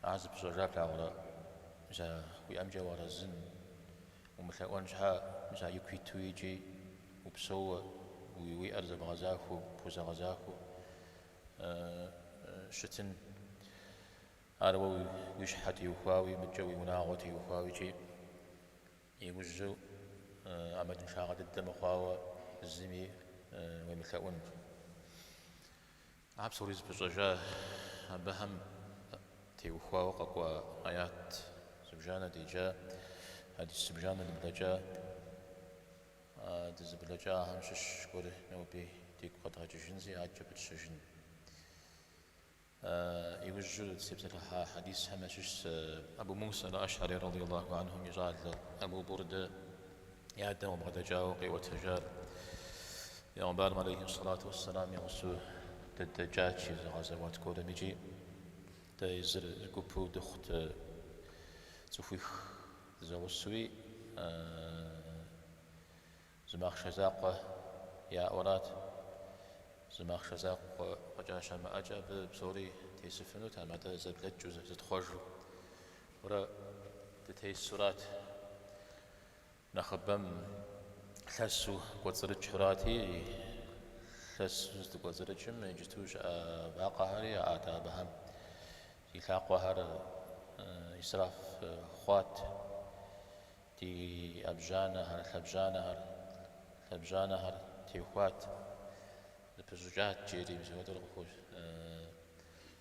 Ар зыпыщӏэжар плъагъурэ, мис а уиӏэмкӏэ уарэзын, умылъэӏуэн щхьэ, мис а ику иту икӏи упсэууэ, уи уиӏэр зэбгъэзахуэу, пхузэгъэзахуэу щытын. Ар уэ уи щхьэ теухуауи, мыдкӏэ уи унагъуэ теухуауэ икӏи иужьу ӏэмалыншагъэ дыдэ мыхъуауэ зыми уемылъэӏун. А псори зыпыщӏэжа абыхэм теухуауэ къэкӏуа аят зыбжанэ деджа, хьэдис зыбжанэ дыблэкӏа, дызыблэкӏахэм щыщ гуэри ноби дигу къэдгъэкӏыжынзи адэкӏэ пытщэжын. Иужьу дызытепсэлъыхьа хьэдисхэм ящыщщ Абу Муса аль-Ашъари радийаллаху анхум и щӏалэ Абу Бурдэ и адэм къыбгъэдэкӏауэ къиӏуэтэжар Пегъумбарым алейхи салату уссалам и гъусэу дыдэкӏат, жи, зы гъэзэуат гуэрым икӏи дэ езыр гупу дыхъут цӏыхуих зэгъусэуи зы махъшэ закъуэ яӏэурат. Зы махъшэ закъуэ фӏэкӏа щамыӏэкӏэ абы псори тесыфынутэм, атӏэ зэблэкӏыу зытхъуэжу урэ дытесурат нэхъыбэм лъэсу кӏуэцӏрыкӏхэурати, лъэсу здыкӏуэцӏрыкӏым иджыту щыӏэ вакъэхэри яӏат абыхэм. Ди лъакъуэхэр исраф хъуат, ди ӏэбжьанэхэр, лъэбжьанэхэр, лъэбжьанэхэр техуат, зэпыщӏыкӏат, жери мис апхуэдэу къыхощ.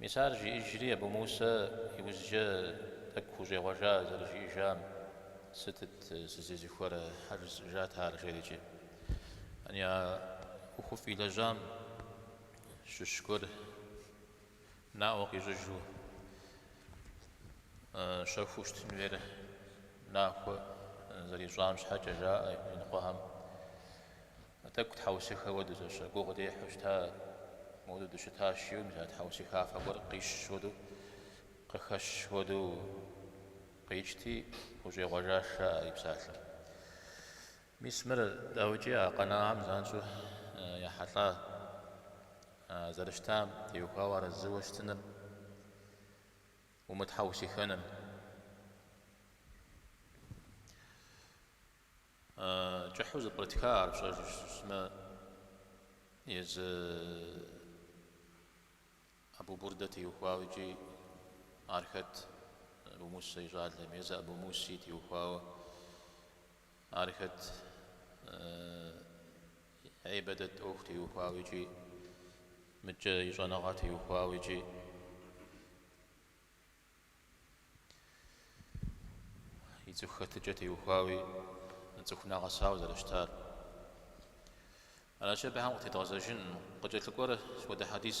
Мис ар жиӏэжри, Абу Мусэ и ужькӏэ тӏэкӏу хущӏегъуэжа зэрыжиӏэжам, Сытыт сызезыхуэрэ? щхьэ жысӏыжат ар жери икӏи. Ани а ӏуэхуфӏ илэжьам щыщ гуэр наӏуэ къищӏыжу щэхуу щытын хуейр нахуэ зэрищӏам щхьэкӏэ жаӏэ иныкъуэхэм. Тӏэкӏу тхьэусыхэ хуэдэущ, гугъу дехьу щыта, модэу дыщыта жиӏэу, мис а тхьэусыхафэ гуэр къищщ хуэдэу, къыхэщ хуэдэу къикӏти, хущӏегъуэжащ, жаӏэ и псалъэм. Мис мыр, дауикӏи, а къэнахьэм занщӏэу ехьэлӏа, а зэрыщытам теухуауэ арэзыуэ щытыным умытхьэусыхэным. Кӏыхьу зэпкърытха ар пщӏэжу щытмэ, езы Абу Бурдэ теухуауэ икӏи ар хэт Абу Мусэ и щӏалэм, езы Абу Муси теухуауэ ар хэт ибадэт ӏуэху теухуауэ икӏи мыдкӏэ и щӏэныгъэ теухуауэ икӏи. и цӏыху хэтыкӏэ теухуауи, цӏыху нэгъэсауэ зэрыщтар. Аращи, абыхэм къытедгъэзэжын, къыкӏэлъыкӏуэр сыт хуэдэ хьэдис.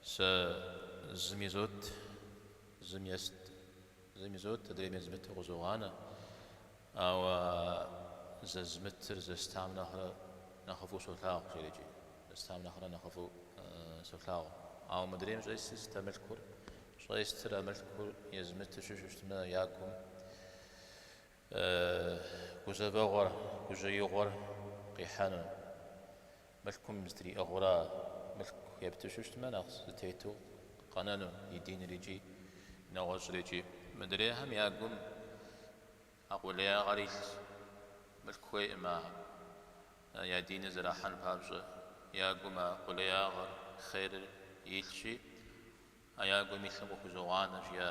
Сэ зым изот, зым ест, зым изот, адрейм езмыту къызогъанэ. Ауэ зэзмытыр зэстам нэхърэ нэхъыфӏу солъагъу, жеӏэ икӏи, зэстам нэхърэ нэхъыфӏу солъагъу. Ауэ мыдрейм щӏестыр сыт а мылъкур? Щӏестыр а мылъкур езмытыщу щытмэ, я гум гузэвэгъуэр, гужьеигъуэр къихьэну. Мылъкум зытриӏыгъэурэ мылъку ептыщу щытмэ, нэхъ зэтету къэнэну и диныр икӏи нэгъуэщӏыр икӏи. Мыдрейхэм я гум а къулеягъэр илъщ. Мылъку хуейкъым а я диныр зэрахьэн папщӏэ. Я гум а къулеягъэр, хъерыр, илъщи, а я гум илъым къыхузогъанэ, жиӏэ.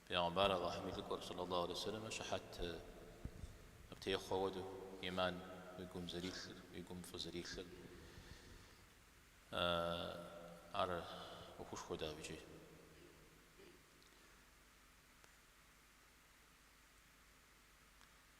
Пэйгъэмбар Аллахьым и лӏыкӏуэр сэллаллаху алейхи ва сэллэмэ щыхьэт птехъуэ хуэдэу, иман уи гум зэрилъыр, уи гум фӏы зэрилъыр, ар ӏуэхушхуэ дэ абыкӏи.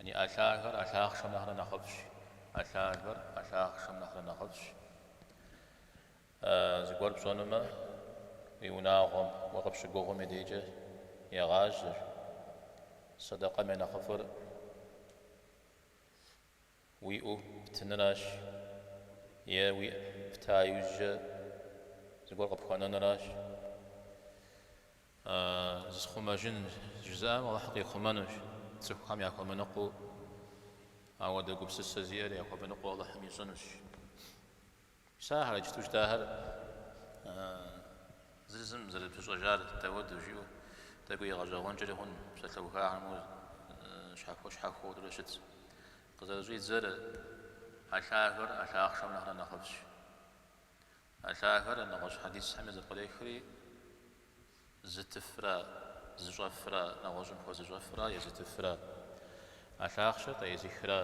Яни ӏэ лъагэр ӏэ лъахъшэм нэхърэ нэхъыфӏщ. ӏэ лъагэр ӏэ лъахъшэм нэхърэ нэхъыфӏщ. Зыгуэр пщӏэнумэ, уи унагъуэм уэ къыпщыгугъым и дейкӏэ егъажьэ. Сэдэкъэм я нэхъыфӏыр. Уиӏэу птыныращ е уиӏэ пта иужькӏэ зыгуэр къыпхуэнэныращ. А зысхъумэжын жызыӏэм Алыхь къихъумэнущ, цӏыхухэм яхуэмыныкъуэу ауэдэ гупсысэ зиӏэр яхуэмыныкъуэу Алыхьым ищӏынущ. Псалъэр иджыпсту жытӏахэр зыр зым зэрыпыщӏэжар дауэдэу жиӏэу тӏэкӏуи игъэщӏэгъуэнкӏэри хъун, псалъэухахэм мор щхьэхуэ щхьэхуэурэ щытщ. Къызэрыщӏидзэр, ӏэ лъагэр ӏэ лъахъшэм нэхърэ нэхъыфӏщ. ӏэ лъагэр нэгъуэщӏ хьэдисхэми зэпкърехри, зытыфра зыщӏэфра, нэгъуэщӏым хуэзыщӏэфра е зытыфра, ӏэ лъахъшэр къеӏызыхра,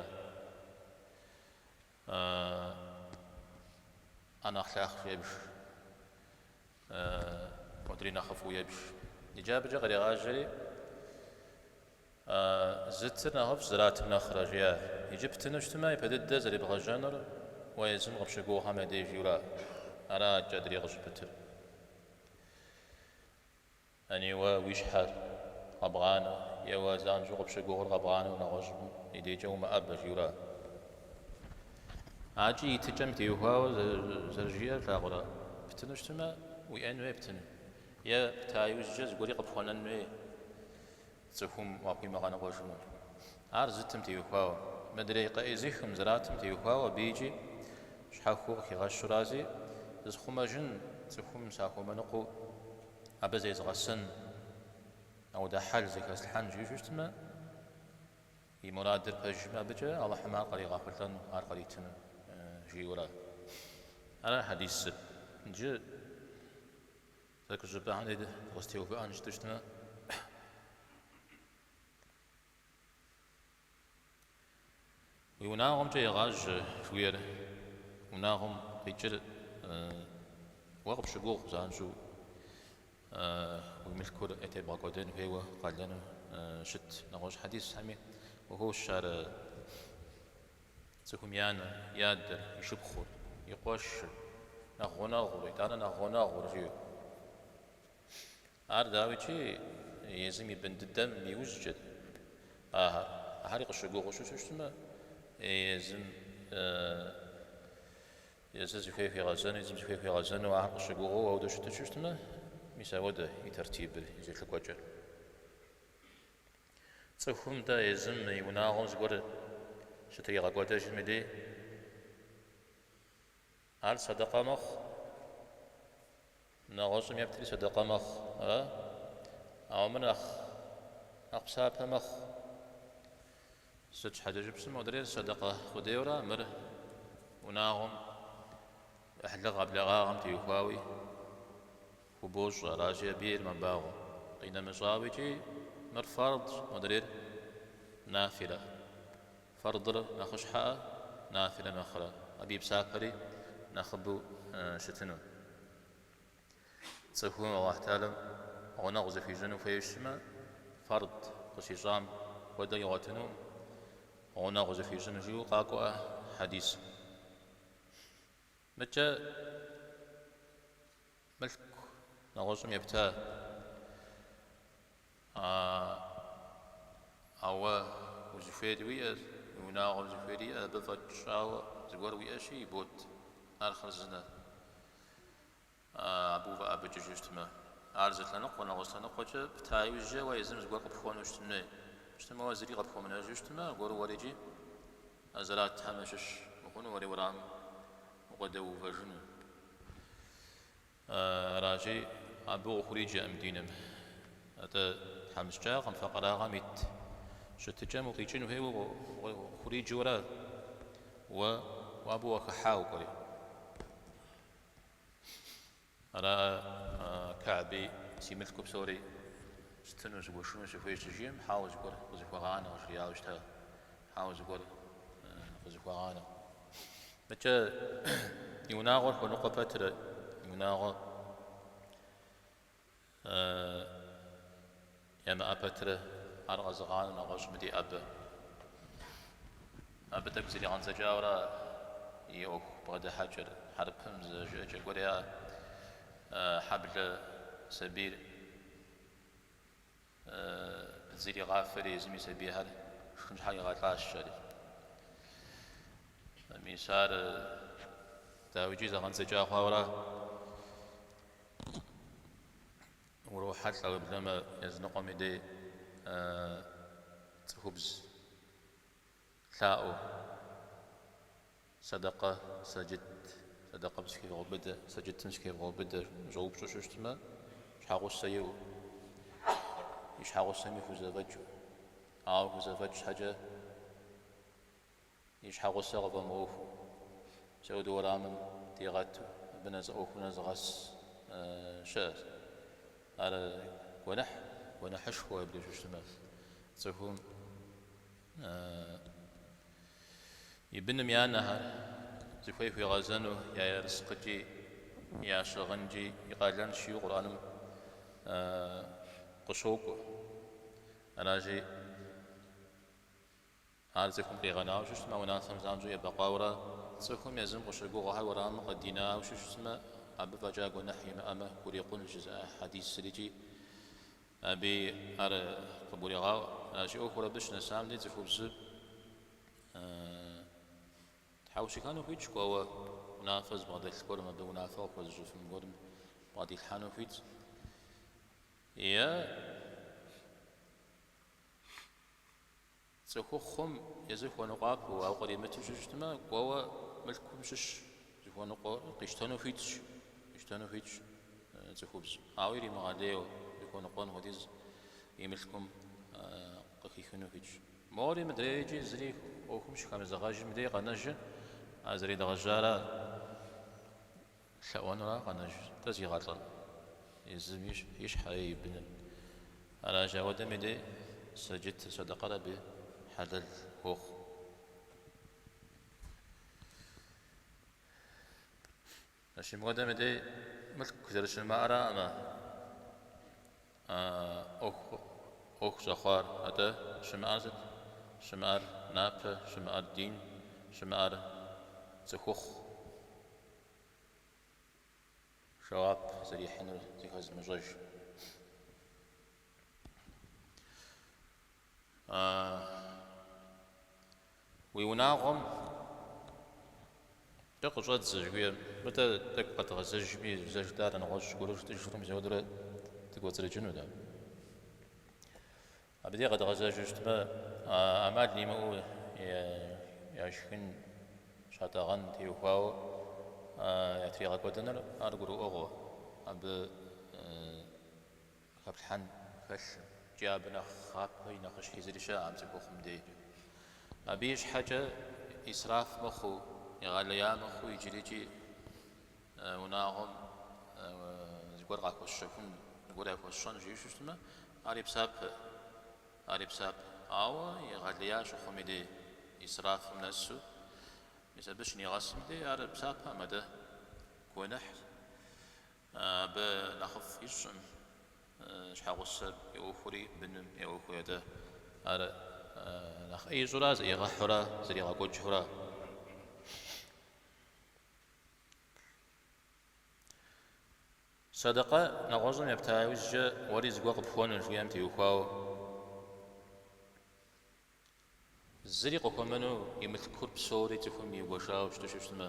Ӏэ нэхъ лъахъшэу ебж, мыдри нэхъыфӏу ебж. Иджы абыкӏэ кърегъажьэри, Зытыр нэхъыфӏщ, зэратым нэхърэ, жиӏэ. Иджы птыну щытмэ, ипэ дыдэ зэребгъэжьэнур уэ езым къыпщыгугъхэм я деж жиӏэурэ? Ани кӏэдри къыщыпытыр. Ани уэ уи щхьэр къэбгъанэ, е уэ занщӏэу къыпщыгугъыр къэбгъанэу нэгъуэщӏым и декӏэ умыӏэбэ, жиӏэурэ? Акӏи и тыкӏэм теухуауэ зэрыжиӏэр флъагъурэ? Птыну щытмэ, уиӏэн хуей птын, е пта иужькӏэ зыгуэри къыпхуэнэн хуей. Цӏыхум уахуимыгъэныкъуэжыну. Ар зытым теухуауэ, мыдрей къаӏызыхым зэратым теухуауэ абы икӏи, щхьэхуэу къыхигъэщу аращи, зысхъумэжын, цӏыхум сахуэмыныкъуэу абы зезгъэсэн, ауэдэ хьэл зэхэслъхьэн жиӏэу щытмэ, и мурадыр пэжымэ абыкӏэ Алыхьым ар къригъэхъулӏэну, ар къритыну, жиӏэурэ. Ара хьэдисыр. Иджы. Зэкӏужьыпӏэхэри дыкъыстеувыӏэн щыту щытмэ, уи унагъуэмкӏэ егъажьэ жиӏэр, унагъуэм къикӏыр уэ къыпщыгугъ занщӏэу уи мылъкур ятебгъэкӏуэдэн хуейуэ къалэну щыт нэгъуэщӏ хьэдисхэми ухуощ ар. Цӏыхум и анэр, и адэр, и шыпхъур, и къуэшыр, нэхъ гъунэгъур, итӏанэ нэхъ гъунэгъур, жи. Ар, дауикӏи, езым и бын дыдэм и ужькӏэт. Ахэр. Ахьэри къыщыгугъыу щыщу щытмэ, езым, езы зыхуей хуигъэзэну, езым зыхуей хуигъэзэну ахэр къыщыгугъыу ауэдэ щыту щыщытмэ, мис ауэдэ и тертибыр, и зэлъыкӏуэкӏэр. Цӏыхум-тӏэ езым и унагъуэм зыгуэр щытригъэкӏуэдэжым дей ар садакъэ мэхъу, нэгъуэщӏым ептри садакъэ мэхъу, ара? Ауэ мыр нэхъ нэхъ псапэ мэхъу. Сыт щхьэкӏэ жыпӏэм модрейр садакъэ къудейуэ ара, мыр унагъуэм, ӏыхьлыгъэ-блэгъагъэм теухуауи? Хубощӏ, аращи абы ейр мэбагъуэ. Къинэмыщӏауэ икӏи мыр фардщ, мыдрейр нафилэ. Фардыр нэхъыщхьэӏэ, нафилэ нэхърэ, абы и псапэри нэхъыбэу щытыну. Цӏыхум Аллахь Тэхьэлам гъунэгъу зыхуищӏыну хуейуэ щытмэ, фард къыщищӏам хуэдэу игъуэтыну гъунэгъу зыхуищӏыну жиӏэу къакӏуэӏэ хьэдисым. Мыкӏэ мылъку нэгъуэщӏым епта, ауэ узыхуейр уиӏэщ, уи унагъуэм зыхуейр иӏэщ, абы фӏэкӏыжауэ зыгуэр уиӏэщи, ибот ар хъарзынэ. Абы увыӏэбыкӏыжу щытмэ, ар зы лъэныкъуэ, нэгъуэщӏ лъэныкъуэкӏэ пта иужькӏэ уэ езым зыгуэр къыпхуэнэу щытын хуей. Щытмэ уэ зыри къыпхуэмынэжу щытмэ, аргуэру уэрикӏи а зэратхэм ящыщ ухъуну, уэри уэрамым укъыдэувэжыну. Аращи, абы къыхуриджэкъым диным. Атӏэ тхьэмыщкӏагъэм, факъырагъэм ит щытыкӏэм укъикӏын хуейуэ къыхуриджэура уэ уэ абы уахыхьа укӏуэри. Ара Кахьби, си мылъку псори стыну, сыгуэшыну сыхуейщ щыжиӏэм, хьэуэ зыгуэр къызыхуэгъанэ, къыжриӏауэ щыта, хьэуэ зыгуэр къызыхуэгъанэ. Мыкӏэ и унагъуэр хуэныкъуэ пэтрэ, и унагъуэ Ямыӏэ пэтрэ ар къэзыгъанэу нэгъуэщӏым дей ӏэбэ. Абы тӏэкӏу зэригъэндзэкӏауэра и ӏуэху бгъэдыхьэкӏэр, хьэрыпым зы жыӏэкӏэ гуэр яӏэ, хьэблэ сабийр. Зригъафэри езым и сабийхэр шхын щхьэкӏэ игъэлӏащ жери. Мис ар дауикӏи зэгъэндзэкӏа хъуауэра? Урохьэлӏэ уеблэмэ языныкъуэм и дей цӏыхубз Лъаӏуэ, сэдэкъэ сэджыт, сэдэкъэм сыхевгъэубыдэ, сэджытым сыхевгъэубыдэ, жиӏэу, ущӏэупщӏэу щыщтмэ, щхьэгъусэ иӏэу, и щхьэгъусэми хузэфӏэкӏыу. Ауэ хузэфӏэкӏ щхьэкӏэ и щхьэгъусэ къыфӏэмыӏуэхуу, сауд уэрамым дигъэту, абы нэс ӏуэху нэзыгъэс щыӏэщ. Ар гуэныхь, гуэныхьышхуэ абы щыщтмэ, цӏыхум И быным я анэхэр зыхуей хуигъэзэну я ерыскъыкӏи, я щыгъынкӏи и къалэнщ жиӏэу Къурӏэным къыщокӏуэ. Аращи, ар цӏыхум къигъэнауэ щыщтмэ, а унафэм занщӏэу ебэкъуауэра? Цӏыхум езым къыщыгугъхэр уэрамым къыдинауэ щыщтмэ, абы фӏэкӏа гуэныхь имыӏэмэ, хурикъун жызыӏэ хьэдисрикӏи Абы ар къыбгурегъаӏуэ. Аращи, ӏуэхур абы щынэсам дей цӏыхубзыр тхьэушыхэну хуитщ, кӏуэуэ унафэ зыбгъэдэлъ гуэрым, абы унафэ къыхуэзыщӏыфын гуэрым бгъэдилъхьэну хуитщ. Е Цӏыхухъум езыр хуэныкъуапэу, ауэ къримыту щыщытмэ, кӏуэуэ мылъкум щыщ зыхуэныкъуэр къищтэну хуитщ, къищтэну хуитщ цӏыхубз, ауэ иримыгъэлейуэ, зыхуэныкъуэн хуэдиз и мылъкум къыхихыну хуитщ. Мори мыдрейр икӏи зыри ӏуэхум щыхэмызэгъэжым дей къэнэжыр, а зэредгъэжьара. Лъэӏуэнура къэнэжытӏэ зигъэлӏэн? Езым и щхьэ е и быным? Аращ, ауэдэми дей сэджыт сэдэкъэр абы хьэлэл хуохъу. Щымыгуэдэми дей мылъку зэрыщымыӏэраӏым а ӏуэху щӏэхъуар, атӏэ щымыӏэр сыт? Щымыӏэр напэ, щымыӏэр дин, щымыӏэр цӏыхухъу. жэуап зэрихьынур зэхэзымыщӏэж. Уи унагъуэм де къыщӏэдзэ жыхуиӏэр, мыдэ тӏэкӏу къэдгъэзэжми, зэ жытӏар нэгъуэщӏ гуэру жытӏыжурэ мис апхуэдэурэ дыкӏуэцӏрыкӏыну дэ. Абы де къэдгъэзэжу щытмэ, ӏэмал имыӏэу яшхын щатӏэгъэн теухуауэ ятригъэкӏуэдэныр ар гурыӏуэгъуэ, абы хэплъхьэн хэлъӏым икӏи абы нэхъапи нэхъыщхьи зыри щыӏэкъым цӏыхухъум дей. Абы и щхьэкӏэ исраф мыхъуу, егъэлея мыхъуу иджырикӏи унагъуэм зыгуэр къахуэсщэхун, зыгуэр яхуэсщӏэн жиӏэу щыщытмэ, Ари псапэ, ари псапэ. Ауэ егъэлея щыхъум и дей, исрафым нэсу, мис абы щынигъэсым дей, ар псапэӏым, атӏэ гуэныхь. Абы нэхъыфӏ ищӏым, щхьэгъусэ и ӏуэхури быным и ӏуэхури атӏэ. Ар нэхъ ӏей ищӏура, зэӏигъэхьэура, зэригъэкӏуэкӏыура? Сэдэкъэ нэгъуэщӏым епта иужькӏэ уэри зыгуэр къыпхуэнур, жиӏэм теухуауэ. Зыри къыхуэмыну и мылъкур псори цӏыхум игуэшауэ щыту щыщытмэ.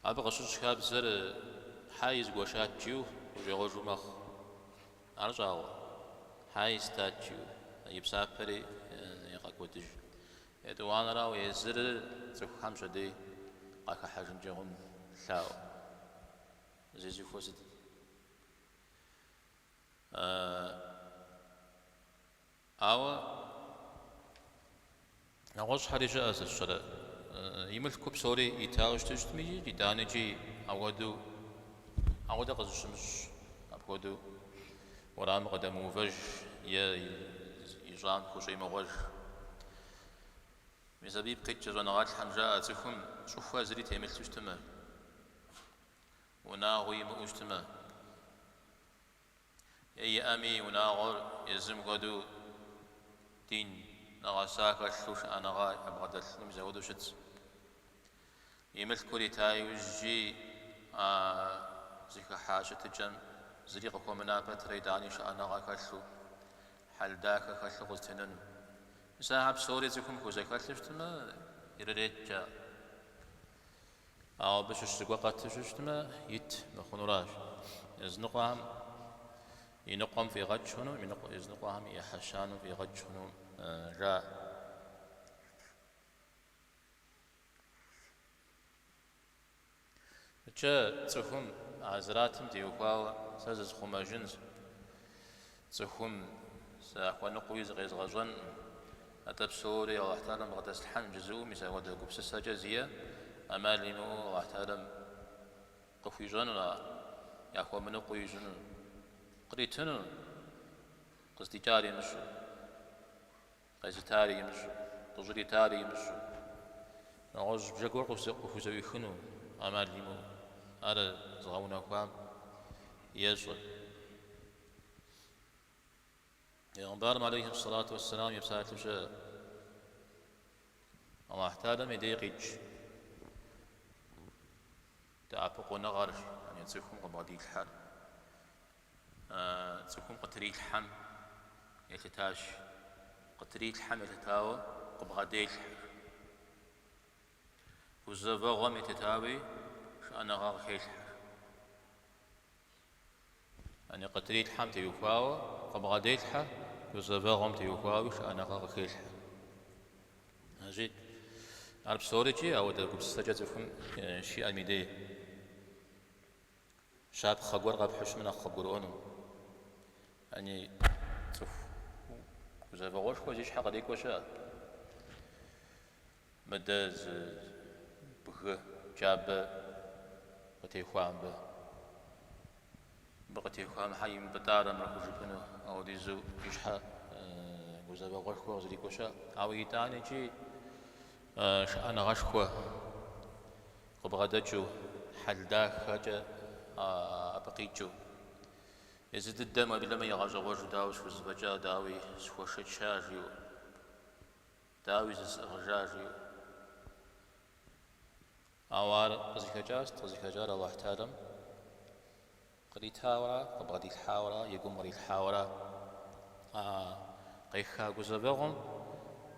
Абы къыщыщӏ хабзэр хьэи згуэшат жиӏэу щӏегъуэжу мэхъу. Ар щӏагъуэ, хьэи стат жиӏэу и псапэри егъэкӏуэдыж. Етӏуанэрау езырыр цӏыхухэм пщэдей къахыхьэжынкӏэ хъун лъаӏуэу зезыхуэ сыт? Ауэ нэгъуэщӏхэри щыӏэ сыт щӏэрэ? И мылъку псори итауэ щыту щытми икӏи итӏанэкӏи ауэду ауэдэ къызыщымыщӏ апхуэдэу. Уэрамым къыдэмыувэж е ищӏам хущӏемыгъуэж. Мис абы ипкъ иткӏэ щӏэныгъэлӏхэм жаӏэ цӏыхум щӏыхуэ зыри темылъу щытымэ, унагъуи имыӏэу щытымэ, е иӏэми унагъуэр езым хуэдэу дин нэгъэса хэлъу шыӏэныгъэ ябгъэдэлъыным зэхуэдэу щытщ. И мылъкур ита иужькӏи а зыхыхьа щытыкӏэм зыри къыхуэмына пэтрэ итӏани шыӏэныгъэ хэлъу, хьэл дахэ хэлъу къызэтенэну. Мис ахэр псори цӏыхум хузэхэлъу щытмэ, ирыреткӏэ. Ауэ абы щыщ зыгуэр къэту щытмэ, ит мыхъунуращ. Языныкъуэхэм и ныкъуэм фӏигъэкӏ хъуну, языныкъуэхэм ӏыхьэ щанэм фӏигъэкӏ хъуну жаӏэ. Икӏи цӏыхум а зратым теухуауэ сэ зысхъумэжынщ, цӏыхум сахуэныкъуэуи зыкъезгъэщӏэнкъым, атӏэ псори Алыхьталэм къыдэслъхьэн жызыӏэм мис апхуэдэ гупсысэкӏэ зиӏэм ӏэмал имыӏэу Алыхьталэм къыхуищӏэнур, яхуэмыныкъуэу ищӏынур, къритыну, къыздикӏар имыщӏэу. Къезытари имыщӏэу, къыщӏритари имыщӏэу, нэгъуэщӏ бжэ гуэр къыхузэӏуихыну ӏэмал имыӏэу ар зыгъэунэхуам ещӏэ. Пэйгъэмбарым алейхи сэлату уэсселам и псалъэу щыӏэ, Алыхьталэм и дей къикӏ дэӏэпыкъуныгъэр, яни цӏыхум къыбгъэдилъхьэр. А цӏыхум къытрилъхьэм елъытащ. Къытрилъхьэм елъытауэ къыбгъэделъхьэ. Гузэвэгъуэм елъытауи шыӏэныгъэ къыхелъхьэ. Яни къытрилъхьэм теухуауэ къыбгъэделъхьэ, гузэвэгъуэм теухуауи шыӏэныгъэ къыхелъхьэ. Иджы, ар псори икӏи апхуэдэ гупсысэкӏэ цӏыхум щиӏэм и дей. Щапхъэ гуэр къэпхьу щытмэ нэхъ къыбгурыӏуэну. Яни, цӏыху гузэвэгъуэшхуэ зи щхьэ кърикӏуэ щыӏэ. Мыдэ зы бгы кӏапэ къытехуа мыбы. Мыбы къытехуам щхьэ имыпӏытӏарэ мыр хужыпӏэну, апхуэдизу и щхьэ гузэвэгъуэшхуэ къызрикӏуэ щыӏэ. Ауэ итӏани икӏи шыӏэныгъэшхуэ Къыбгъэдэкӏыу, хьэл дахэкӏэ абы къикӏыу. Езы дыдэм уеблэмэ игъэщӏэгъуэжу дауи схузэфӏэкӏа, дауи схуэшэча жиӏэу, дауи зысӏыгъыжа жиӏэу. Ауэ ар къызыхэкӏар, къызыхэкӏар Алыхьталэм. Къритауэрэ къыбгъэдилъхьауэрэ и гум кърилъхьауэрэ къеха гузэвэгъуэм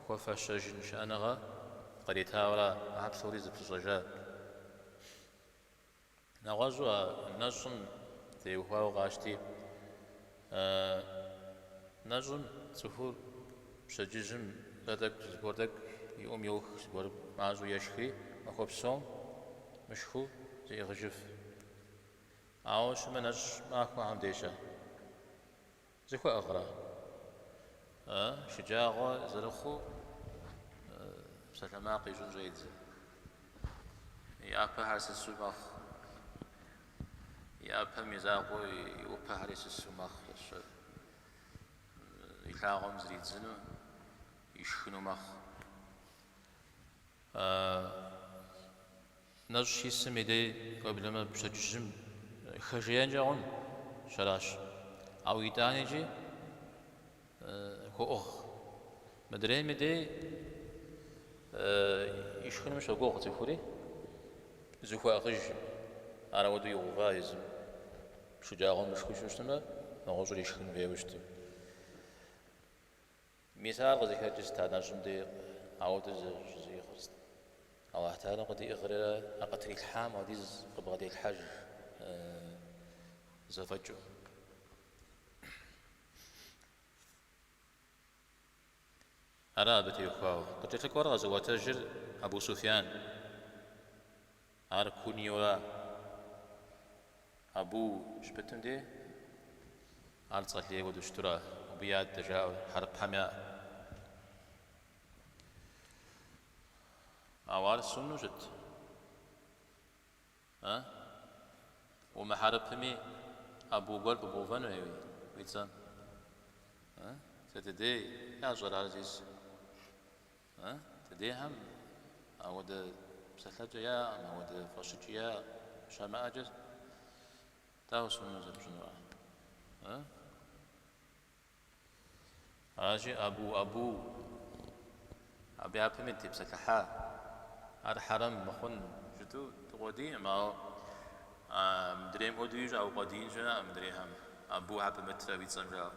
хуэфэщэжын шыӏэныгъэ къыритауэрэ а псори зэпыщӏэжат. Нэгъуэщӏу а нэщӏым теухуауэ къащти, а нэщӏым цӏыхур пщэдджыжьым зы тӏэкӏу зыгуэр тӏэкӏу и ӏум йох, зыгуэр мащӏэу ешхри, махуэ псом мышхыу зеӏыгъыжыф. Ауэ щымынэщӏ махуэхэм дей-щэ зыхуэӏыгърэ? Э, шыджагъуэ зэрыхъуу псалъэмакъ ищӏын щӏедзэ. И ӏэпэхэр сысу мэхъу, и ӏэпэм и закъуэу и ӏупэхэри сысу мэхъу, ищӏыр илъагъум зридзыну, ишхыну мэхъу. А нэщӏ щисым и дей уеблэмэ, пщэдджыжьым хэжеенкӏэ хъунщ, аращ. Ауэ итӏанэкӏи хуоӏыгъ. Мыдрейм и дей ишхыным щогугъ цӏыхури, зыхуэӏыгъыжым. Ар ауэдэу игъэува езым. Шыджагъуэм мышхыжу щытмэ, нэгъуэщӏыр ишхын хуейуэ щытым. Мис ар къызыхэкӏыр сыт а нэщӏым де, ауэдэ зыщӏиӏыгъыр сыт. Алыхь Тэхьэла къыдиӏыгърэрэ а къытрилъхьам хуэдиз къыбгъэделъхьэж зэфӏэкӏыу. Ара абы теухуауэ къыкӏэлъыкӏуэр къэзыӏуэтэжыр Абу Суфьян. Ар куньяра? Абу щыпытым де? Ар цӏэ лей хуэдэу щытура? Абы и адэ жаӏэу хьэрыпхэм яӏэ. Ауэ ар сунну щыт? А? Умыхьэрыпыми, абу гуэр пыбгъэувэнуи уи цӏэм? А? Сыт дей ящӏэр ар, Азиз? Э, ди дехэм ауэдэ псэлъэкӏэ яӏэкъым, ауэдэ фӏэщыкӏи яӏэкъым. Щамыӏэкӏэ дауэ сунну зэрыпщӏынур? Э? Аращи, абу, абу, абы япэми дытепсэлъыхьа, ар хьэрэм мыхъун щыту дукъуэдийкъым, ауэ мыдрейм хуэдэу ищӏа укъуэдиин щыӏэкъым мыдрейхэм, абу абы мыдрей уи цӏэм жаӏэу.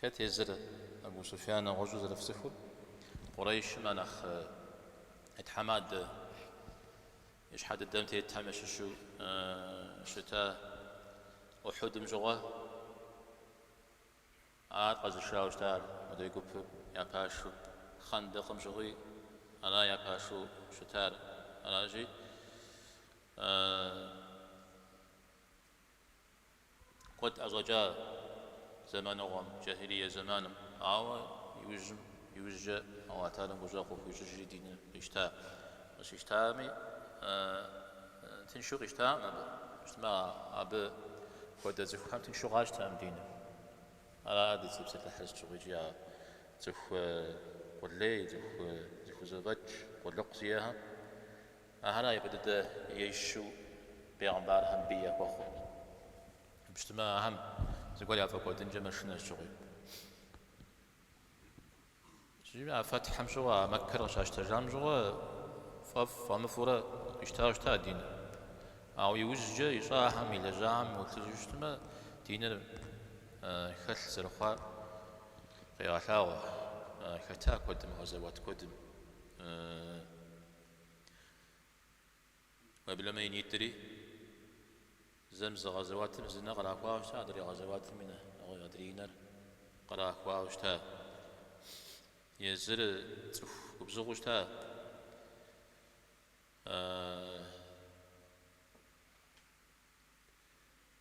Хэт езыр Абу Суфьян нэгъуэщӏу зэрыфцӏыхур? Къурейшым а нэхъ и тхьэмадэ, и щхьэ дыдэм тетхэм ящыщу щыта Ухьудым щыгъуэ. Ар къэзышауэ щыта ар мыдрей гупым я пашэу, Хъэндэкъым щыгъуи ара я пашэу щытар. Аращи, Куэд ӏэщӏэкӏа зэманыгъуэм, джахилие зэманым, ауэ иужьым, иужькӏэ Алыхь тэхьэлам гущӏэгъу къыхуищӏыжри диныр къищта. Къыщищтами, тыншу къищтакъым абы, щытмэ абы хуэдэ цӏыхухэм тыншу къащтэкъым диныр. Ара ди цӏэ псалъыхьыр сыт щыгъуи икӏи а цӏыху къулей, цӏыху зыхузэфӏэкӏ къулыкъу зиӏэхэм Ахэр ипэ дыдэ ещу бегъымбархэм бий яхуэхъурт. Абы щытмэ, ахэм зыгуэр яфӏэкӏуэдынкӏэ мэшынэ сыт щыгъуи. Иджы а фэтхьым щыгъуэ, а Мэккэр къыщащтэжам щыгъуэ фӏэфӏ фӏэмыфӏурэ къищтауэ щыта диныр. Ауэ иужькӏэ ищӏахэм и лэжьагъэм уеплъыжу щытмэ, диныр хэлъ зэрыхъуар къегъэлъагъуэ хэта куэдым, гъэзэуэт куэдым. Уеблэмэ и нитӏри, зэм зы гъэзэуатым зы нэ кърахуауэ щыта, адрей гъэзэуатым и нэ, нэгъуэщӏ адрей и нэр кърахуауэ щыта. Езыр цӏыху губзыгъэу щыта.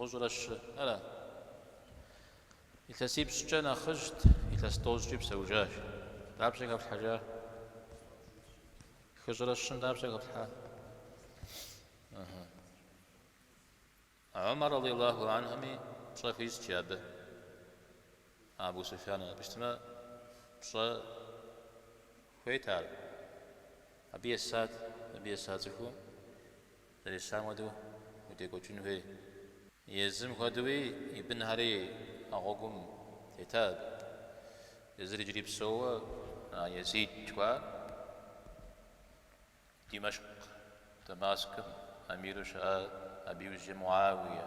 Бгъущӏрэ щыра? Илъэсипщӏкӏэ нэхъыжьт, илъэс тӏощӏкӏи псэужащ. Дапщэ хэплъхьэжа? Хыщӏрэ щым дапщэ хэплъхьа? Омар радиаллаху анхуми пщӏэ хуищӏти абы. Абу Суфьян абы щытмэ, пщӏэ хуейт ар. Абы есат, абы еса цӏыхуу. Зэресам хуэдэу удекӏуэкӏын хуей. Езым хуэдэуи и бынхэри а гъуэгум тета абы. Езыр иджыри псоуэ а Езид жыхуаӏэр Димэшкъ, Дамаскым, эмиру щыӏа абы иужьрей Муауие.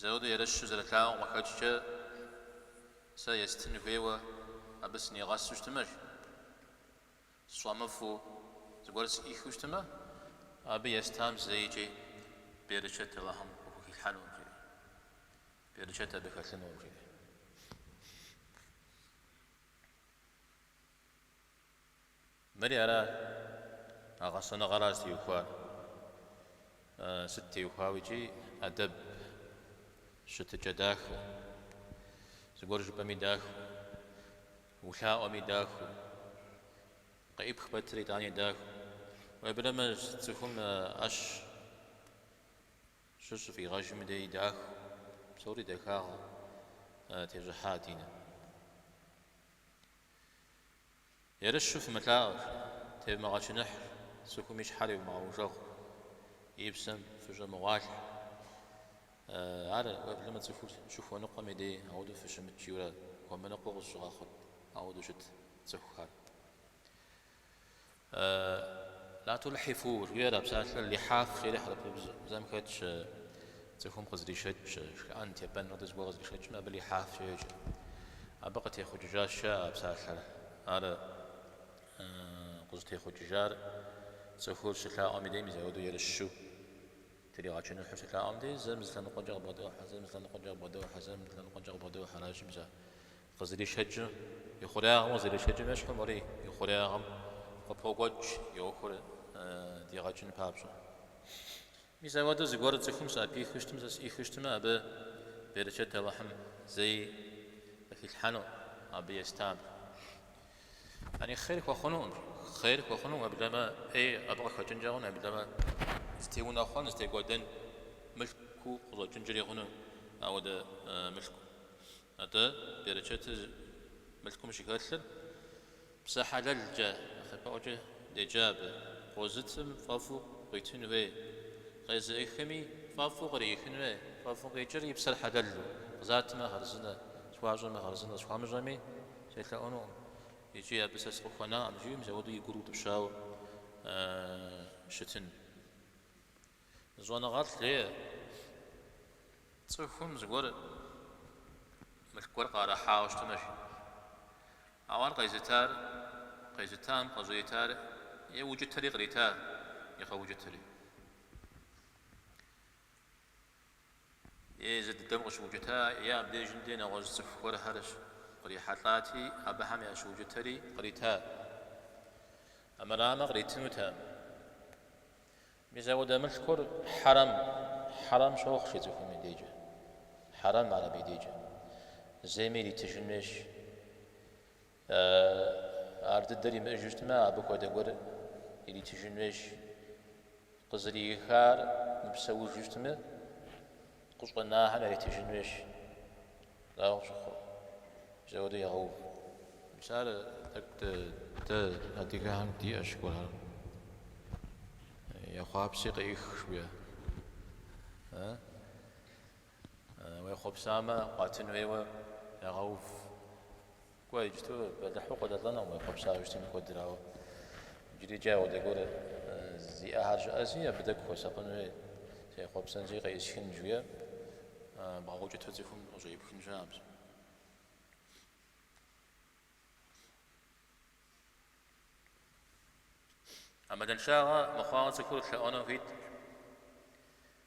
Заурэ ерыщу зэрылъаӏуэм къыхэкӏкӏэ, сэ естын хуейуэ абы сынигъэсу щытымэ, жи. Сфӏэмыфӏу зыгуэр сӏихыу щытымэ, абы естам зэикӏи берычэт Алыхьым къыхухилъхьэнукъым, жи. Берычэт абы хэлъынукъым, жи. Мыри ара? А гъэсэныгъэра зытеухуар? Сыт теухуауэ икӏи? ӏэдэб щытыкӏэ дахэ. Зыгуэр жыпӏэми дахэу, улъаӏуэми дахэу, къыӏипх пэтыр итӏани дахэу. Уеблэмэ, цӏыхум ӏэщ щыщ щыфӏигъэжым дей дахэу, псори дахагъэ тещӏыхьа динэ. Ерыщу фымылъаӏуэ, тевмыгъэчыныхь, цӏыхум и щхьэр еумыгъэужэгъу, и псэм фыщӏэмыгъуалъхь. Ар уеблэмэ цӏыхур щыхуэныкъуэм и дей ауэдэу фыщымыт жиурэ хуэмыныкъуэу къызыщыгъэхъут, ауэдэу щыт цӏыхухэр. Латулхьифу жиӏэр а псалъэр лихьаф жери хьэрыпыбзэм хэтщ. Цӏыхум къызэришэкӏ шхыӏэн тепӏэныр дэ зыгуэр къызэришэкӏым абы лихьафкӏэ йоджэ. Абы къытехъукӏыжащ, жаӏэ а псалъэр. Ар къызытехъукӏыжар цӏыхур щылъаӏуэм и дей мис апхуэдэу ерыщу тригъэчыныхьу щылъаӏуэм дей, зэм зы лъэныкъуэкӏэ къыбгъэдохьэ, зэм зы лъэныкъуэкӏэ къыбгъэдохьэ, зэм зы лъэныкъуэкӏэ къыбгъэдохьэ, аращи мис а къызэришэкӏыр и хъуреягъым къызэришэкӏым ещхьу, мыри и хъуреягъым къыпокӏуэкӏ и ӏуэхур дигъэкӏын папщӏэ. Мис ауэдэу зыгуэру цӏыхум сӏэпихыу щытым, сэ сӏихыу щытымэ, абы берычэт Алыхьым зэи къыхилъхьэну абы естам. Яни хъер хуэхъунукъым, хъер хуэхъунукъым, уеблэмэ ӏей абы къыхэкӏынкӏэ хъуну, уеблэмэ зытеунэхъуэн, зытекӏуэдэн мылъку къыщӏэкӏынкӏэри хъуну ауэдэ мылъкум. Атӏэ берычэтыр мылъкум щыхэлъыр. Псэ хьэлэлкӏэ, нэхъапэӏуэкӏэ деджа абы, къозытым фӏэфӏу къыуитын хуей, къезыӏыхми фӏэфӏу къриихын хуей, фӏэфӏу къикӏыр и псэр хьэлэлу, къызатмэ хъарзынэ, схуащӏэмэ хъарзынэ, схуамыщӏэми селъэӏунукъым икӏи абы сэ сыкъыхуэнакъым, жи мис ауэдэу и гур утӏыпщауэ щытын. Зы щӏэныгъэлӏ жеӏэ, цӏыхум зыгуэр мылъку гуэр къыӏэрыхьауэ щытынущ. Ауэ ар къезытар, къезытам къыщӏритар е укӏытэри кърита, е къэукӏытэри. Езы дыдэм къыщыукӏыта, е абдежым дей нэгъуэщӏ цӏыху гуэрхэр щыкърихьэлӏати, абыхэм ящыукӏытэри кърита. Армырамэ, къритынутэкъым. Мис ауэдэ мылъкур хьэрэм, хьэрэм щохъу жи цӏыхум и дежкӏэ. Хьэрэм ар абы и дежкӏэ. Зейм иритыжын хуейщ. Ар дыдэр имыӏэжу щытмэ, абы хуэдэ гуэр иритыжын хуейщ. Къызыриихар мыпсэужу щытмэ, Къыщӏэнахэр яритыжын хуейщ лӏауэ щӏыхуэ хуэдэу егъэув. Мис ар тӏэкӏу дэ адыгэхэм диӏэщ гуэрхэр. Ехъуапси къеӏых жиӏэ. Уехъуэпсамэ, къуатын хуейуэ егъэув. Кӏуэ, иджыпсту бэлыхьу къыдэлӏэнукъым уехъуэпсауэ щытми куэдрэ, ауэ иджыри иджы апхуэдэ гуэр зиӏэхэр щыӏэщи, абы тӏэкӏу хуэсакъын хуейщ, сехъуэпсэнщи, къеӏысхынщ, жиӏэ, бгъэукӏытэу цӏыхум къыщӏеӏыпхын щыӏэкъым. Ӏэмалыншагъэ мыхъуауэ цӏыхур лъэӏуэну хуиткъым.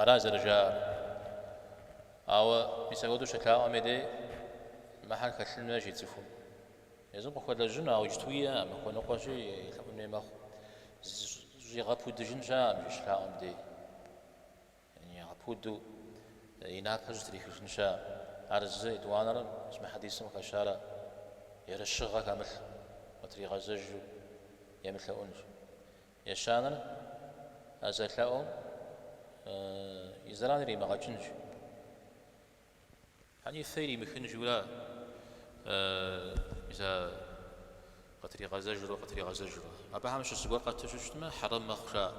Ара зэрыжаӏэр. Ауэ мис апхуэдэу щылъаӏуэм и дей мыхэр хэлъын хуейщ жи цӏыхум. Езым къыхуэлэжьыну, ауэ иджыту иӏэкъым, хуэныкъуэщи елъэӏун хуей мэхъу. Зыщӏигъэпудыжын щыӏэкъым иджы щылъаӏуэм дей. Зигъэпуду и напэр зытрихыжын щыӏэкъым. Ар зы етӏуанэр мис мы хьэдисым хэтщ ар ерыщыгъэ хэмылъу къытригъэзэжу емылъэӏунщ. Ещанэр а зэлъэӏум и зэран иримыгъэкӏынщ. Яни фэр иримыхын журэ мис ар къытригъэзэжурэ къытригъэзэжурэ. Абыхэм щыщ зыгуэр хэту щыщтмэ, хьэрам мэхъу жаӏэ.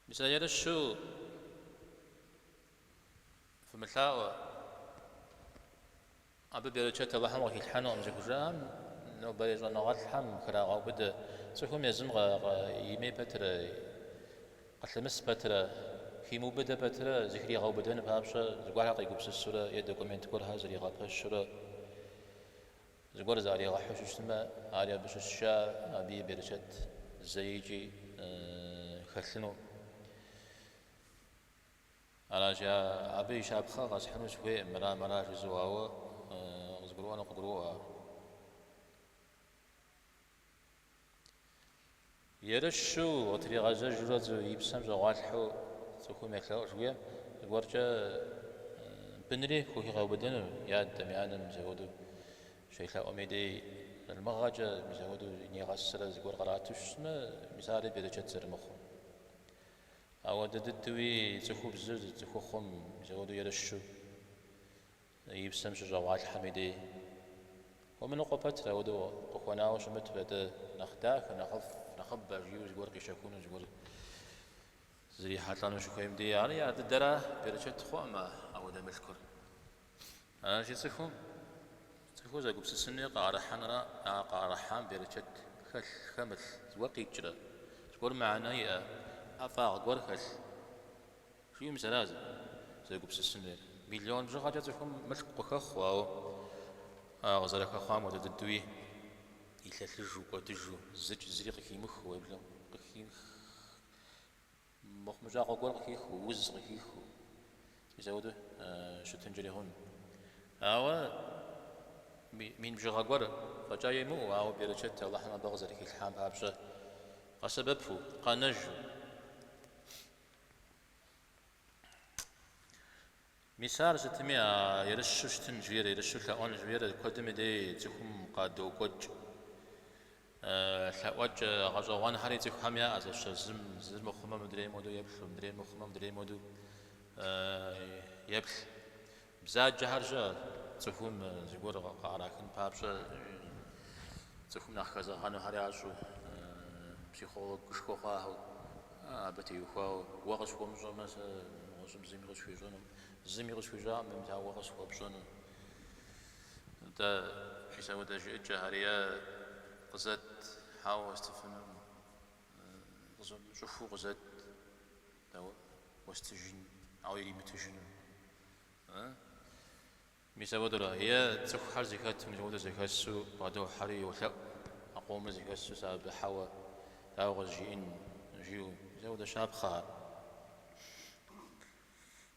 Мис а ерыщу фымылъаӏуэ, абы берычэт Алыхьым къыхилъхьэнукъым зыхужаӏэм, нобэрей щӏэныгъэлӏхэм храгъэубыдэ, цӏыхум езым имей пэтрэ, къылъымыс пэтрэ, химыубыдэ пэтрэ зыхригъэубыдэн папщӏэ зыгуэрхэр къигупсысурэ е документ гуэрхэр зригъэпэщурэ Зыгуэр зыӏэригъэхьэу щытмэ, ари абы щыщщ, абы и берычэт зэикӏи хэлъынукъым. Аращи, абы и щапхъэ къэсхьыну сыхуейкъым, мыра мыра жысӏэу, ауэ къызгурыӏуэнум къыгурыӏуащ ар. Ерыщу, къытригъэзэжурэ и псэм щӏэгъуалъхьэу цӏыхум елъэӏу жыхуиӏэм, зыгуэркӏэ бынри хухигъэубыдэну и адэм, и анэм мис апхуэдэу щелъэӏум и дей залымыгъэкӏэ, мис апхуэдэу нигъэсрэ зыгуэр кърату щытмэ, мис ари берычэт зэрымыхъур. Ауэ дэ дыдуи цӏыхубзыр цӏыхухъум мис апхуэдэу ерыщу. И псэм щыщӏэгъуалъхьэми дей. Хуэмыныкъуэ пэтрэ ауэдэу къыхуэнауэ щымыту, атӏэ нэхъ дахэ, нэхъыбэ жиӏэу зыгуэр къищэхуну, зыгуэр зрихьэлӏэну щыхуейм дей. Ар дыдэра, берычэт хъуӏым а ауэдэ мылъкур. Аращи, цӏыхум, цӏыхур зэгупсысын хуейр къыӏэрыхьэр а къыӏэрыхьам берычэт хэлъ, хэмылъ, зыгуэр къикӏрэ, зыгуэр мыхьэнэ иӏэ, ӏэфӏагъ гуэр хэлъ. Жиӏэу мис аращ зэгупсысын хуейр. Миллион бжыгъэкӏэ цӏыхум мылъку къыхэхъу, ауэ а къызэрыхэхъуам хуэдэ дыдэуи илъэлъыжу кӏуэдыжу, зыкӏ зыри къыхимыхыу, уеблэмэ къыхих, мыхъумыщӏагъэ гуэр къыхихыу, уз къыхихыу, мис апхуэдэу щытынкӏэри хъуну. Ауэ мин бжыгъэ гуэр фӏэкӏа имыӏэу, ауэ берычэт Алыхьым абы къызэрыхилъхьам папщӏэ къэсэбэпу, къэнэжу, Мис ар сытми а ерыщу щытын жиӏэр, ерыщу лъэӏуэн жиӏэр куэдми дей цӏыхум къадокӏуэкӏ. Лъэӏуэкӏэ гъэщӏэгъуэнхэри цӏыхухэм яӏэ, зэщэ зым зыр мыхъумэ мыдрейм хуэдэу еплъу, мыдрейр мыхъумэ мыдрейм хуэдэу еплъ. Бзаджэхэр щыӏэт, цӏыхум зыгуэр къыӏэрахын папщӏэ, цӏыхум нэхъ хэзэгъэнухэр ящӏэу, психологышхуэ хъуахэу, абы теухуауэ. Уэ къысхуэмыщӏэмэ, сэ нэгъуэщӏым зыми къысхуищӏэнукъым, зыми къысхуищӏакъым, мыдэ уэ къысхуэпщӏэну. Атӏэ, мис апхуэдэ жыӏыкӏэхэр е къызэт, хьэуэ, уэстыфынукъым, къызэт, щӏыхуэу къызэт. Дауэ, уэстыжын, ауэ иримытыжыну. А? Мис апхуэдэура? Е цӏыхухэр зэхэту мыпхуэдэу зэхэсу бгъэдохьэри йолъэӏу, а къомыр зэхэсу сэ абы хьэуэ дауэ къызжиӏэн? жиӏэу, мис апхуэдэ щапхъэхэр.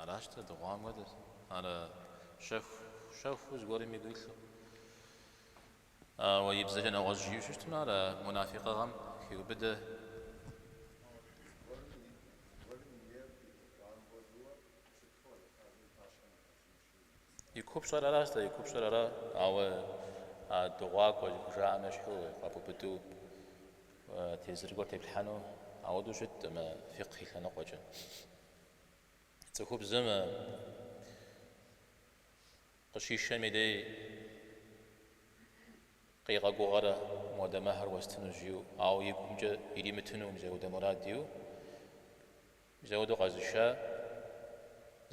Аращ тӏэ дыгъуам хуэдэт. Ар щэху, щэхуу зыгуэрым игу илъу. Ауэ и бзэкӏэ нэгъуэщӏ жиӏэу щыщытым, ар а мунафикъыгъэм хиубыдэ. И купщӏэр аращ тӏэ, и купщӏэр ара, ауэ а дыгъуакӏуэ зыхужаӏэм ещхьу къэбубыду тезыр гуэр теплъхьэну, ауэдэу щыткъым фикъхь и лъэныкъуэкӏэ. Цӏыхубзым къыщишэми дей къигъэгугъэрэ модэ мэхьэр уэстыну жиӏэу, ауэ и гумкӏэ иримытыну мис ауэдэ мурад иӏэу, Мис ауэдэу къэзыша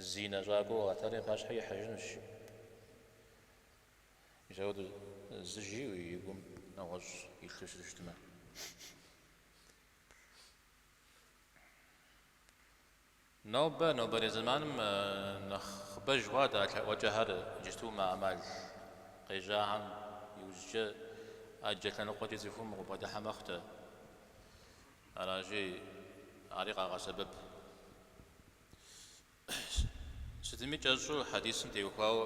зинэщӏакӏуэу Алыхьталэм и пащхьэ ихьэжынущ. Мис ауэдэу зы жиӏэу и гум нэгъуэщӏ илъу щыту щытмэ. Нобэ, нобэрей зэманым нэхъыбэж хъуат а лъэӏуэкӏэхэр иджысту мы ӏэмал къежьахэм иужькӏэ ӏэджэ лъэныкъуэкӏи цӏыхум къыбгъэдыхьэ мэхъутэ. Аращи, ари къагъэсэбэп. Сытми кӏэщӏу хьэдисым теухуауэ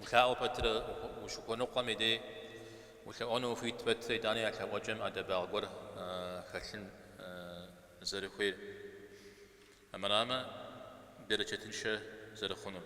улъаӏуэ пэтрэ, ущыхуэныкъуэм и дей улъэӏуэну ухуит пэтрэ, итӏани а лъэӏуэкӏэм ӏэдэбагъ гуэр хэлъын зэрыхуейр, армырамэ, берычэтыншэ зэрыхъунур.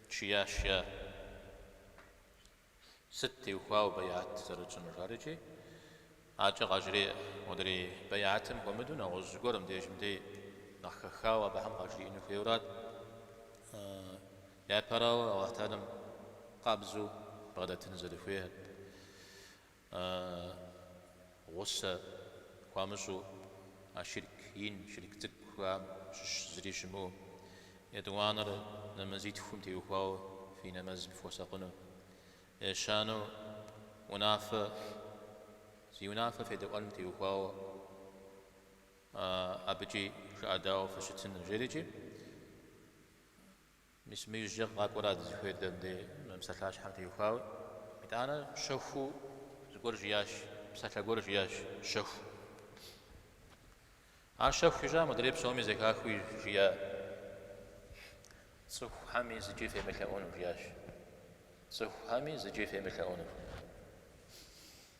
Жиӏащ. Сыт теухуауэ бэйат зэрытщӏынур жаӏэрикӏи, аркӏэ къажреӏэ. Модрей бэйатым хуэмыдэу нэгъуэщӏ гуэр мыбдежым дей нэхъ хэхауэ абыхэм къажриӏэну хуейурат. Япэрауэ, Алыхьталэм къабзэу бгъэдэтын зэрыхуейр. А гъусэ хуамыщӏу, а шырк ин, шырк цӏыкӏухэм щыщ зыри щымыӏэу, етӏуанэр нэмэзитхум теухуауэ фи нэмэзым фыхуэсакъыну. Ещанэу, унафэ, зи унафэ федэӏуэным теухуауэ абыкӏи жыӏэдаӏуэ фыщытыну, жеӏэрикӏи, Мис мы иужькӏэ къакӏуэра дызыхуейр дэ мыбдеж мы псалъащхьэм теухуауэ. Итӏанэ щэхуу зыгуэр жиӏащ, псалъэ гуэр жиӏащ щэхуу. Ар щэхуу жиӏа, модрей псоми зэхахыу жиӏа цӏыхухэми зыкӏи фемылъэӏуну жиӏащ. Цӏыхухэми зыкӏи фемылъэӏуну.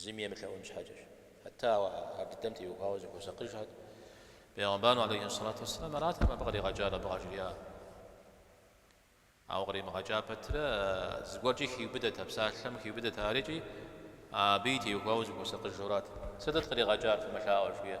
Зыми емылъэӏун щхьэкӏэщ. Хьэтта ар дыдэм теухуауэ зыхуэсакъыжхэт. Пегъымбар алейхи ссалату уэсселам аратэкъым абы къригъэкӏар, абы къажриӏар. Ауэ къримыгъэкӏа пэтрэ, зыгуэркӏи хиубыдэт а псалъэм, хиубыдэт арикӏи, абыи теухуауэ зыхуэсакъыжурат. Сытыт къригъэкӏар, фымылъаӏуэ, жыхуиӏэ.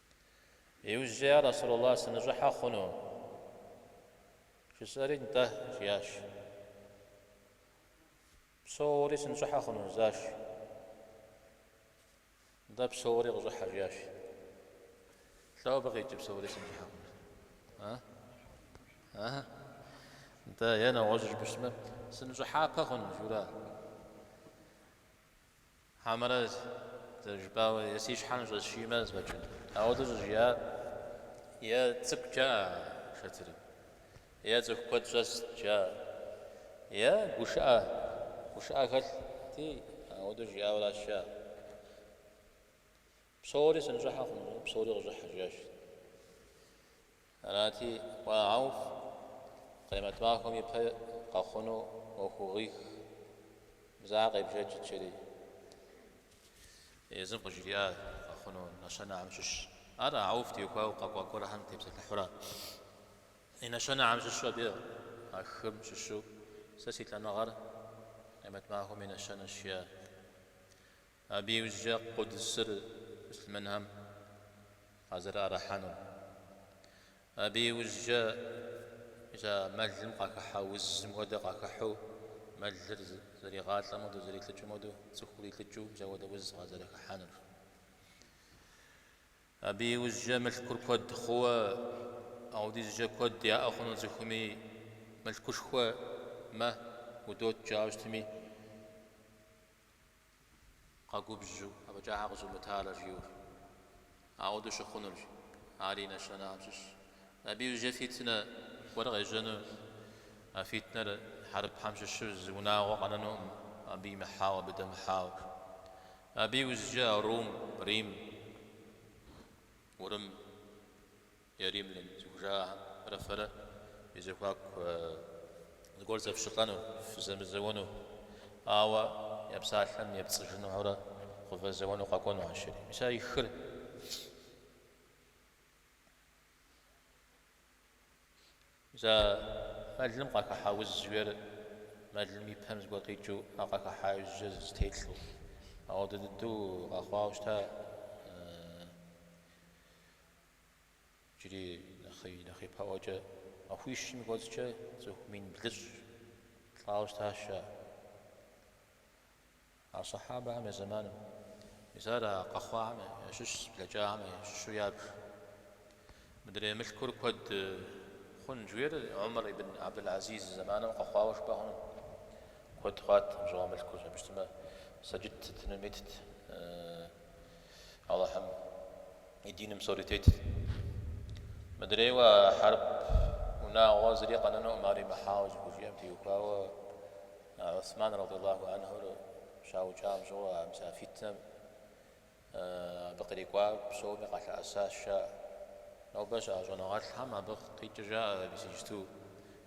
Иужькӏэ, Я Расулаллах, сыныщӏыхьэ хъуну? жысӏэри, Нтӏэ, жиӏащ. Псоури сыныщӏыхьэ хъуну? жысӏащ. Нтӏэ, псоури къыщӏыхьэ, жиӏащ. Лӏо абы къикӏыр, псоури сыныщӏыхьэ хъуну? А? А? Нтӏэ, е нэгъуэщӏ жыпӏэщмэ, сыныщӏыхьапэ хъуну? жиӏэра? Хьэмэрэ зэрыжыпӏауэ, е си щхьэ ныщӏэсшиймэ, зэфӏэкӏынт. Ауэдэу щӏыжиӏар е цӏыкӏу жаӏэ а шэтырым, е цӏыху куэд щӏэст жаӏэ, е гушыӏэ, гушыӏэ хэлъти, ауэдэу жиӏауэращ жаӏэ. Псори сыныщӏыхьэ хъун, жиӏэу псори къыщӏыхьэ, жиӏащ. Арати, Уэ, Ауф, Къемэт махуэм и пэ къэхъуну ӏуэхугъуих зэ къебжэкӏ жери. Езым къыжриӏа къэхъуну нэщэнэхэм щыщ. Ар Ауф теухуауэ къэкӏуа гуэрэхэм тепсэлъыхьурэ. И нэщэнэхэм щыщу абы а хым щыщу, Сэ си лӏэныгъэр Къемэт махуэм и нэщэнэщ, жиӏа. Абы иужькӏэ Къудсыр муслъымэнхэм къазэрыӏэрыхьэнур, абы иужькӏэ ита мэлым къахыхьэ узым хуэдэ къахыхьу, мэлыр зэригъалӏэм хуэдэу, зэрилӏыкӏым хуэдэу, цӏыхур илӏыкӏыу мис апхуэдэ уз къазэрыхыхьэнур. Абы иужькӏэ мылъкур куэд хъууэ, апхуэдизкӏэ куэд яӏэ хъуну цӏыхуми, мылъкушхуэ мэ удот жаӏэу щытми, Къэгубжьу, афӏэкӏа щхьэ къызумытарэ жиӏэу. Апхуэдэу щыхъунурщ. Ари и нэщэнэхэм щыщщ. Абы иужькӏэ фитнэ гуэр къежьэну, а фитнэр хьэрыпхэм щыщу зы унагъуэ къэнэнукъым, абы имыхьауэ, абы дэмыхьауэ. Абы иужькӏэ Рум, Рим, Урым, Е римлян зыхужаӏэхэмрэ фэрэ фи зэхуаку зыгуэр зэфщӏылӏэну, фызэмызэуэну, ауэ я псалъэм епцӏыжынухэурэ къывэзэуэну къэкӏуэну ащ жери. Мис ар и хыр. Мис а мэлым къахыхьэ уз жиӏэр мэлым и пэм зыгуэр къикӏыу ар къахыхьа иужь зэтелӏэу. Апхуэдэ дыдэу къэхъуауэ щыта? Иджыри нэхъ ипэӏуэкӏэ махуищым кӏуэцӏкӏэ цӏыху мин блыщӏ лӏауэ щытащ а а сахьабэхэм я зэманым. Мис ар а къэхъуахэм ящыщ блэкӏахэм ящыщу ябж. Мыдрей мылъкур куэд хъун жиӏэр Умар ибн Абдул-Азиз зэманым къэхъуауэ жыпӏэ хъуну? Куэд хъуат абы щыгъуэ мылъкур, абы щытмэ сэджыт сытыну метт. Алыхьым и диным псори тетт. Мыдрейуэ а хьэрып унагъуэр зыри къэнэнуӏым, ар имыхьауэ зыхужиӏэм теухуауэ Гӏусман радиаллаху анхьур щаукӏам щыгъуэ а мис а фитнэм абы кърикӏуар псоми къалъэӏэсащ, жаӏэ. Нобэ щыӏэ щӏэныгъэлӏхэм абы къикӏыр жаӏэ, мис иджыпсту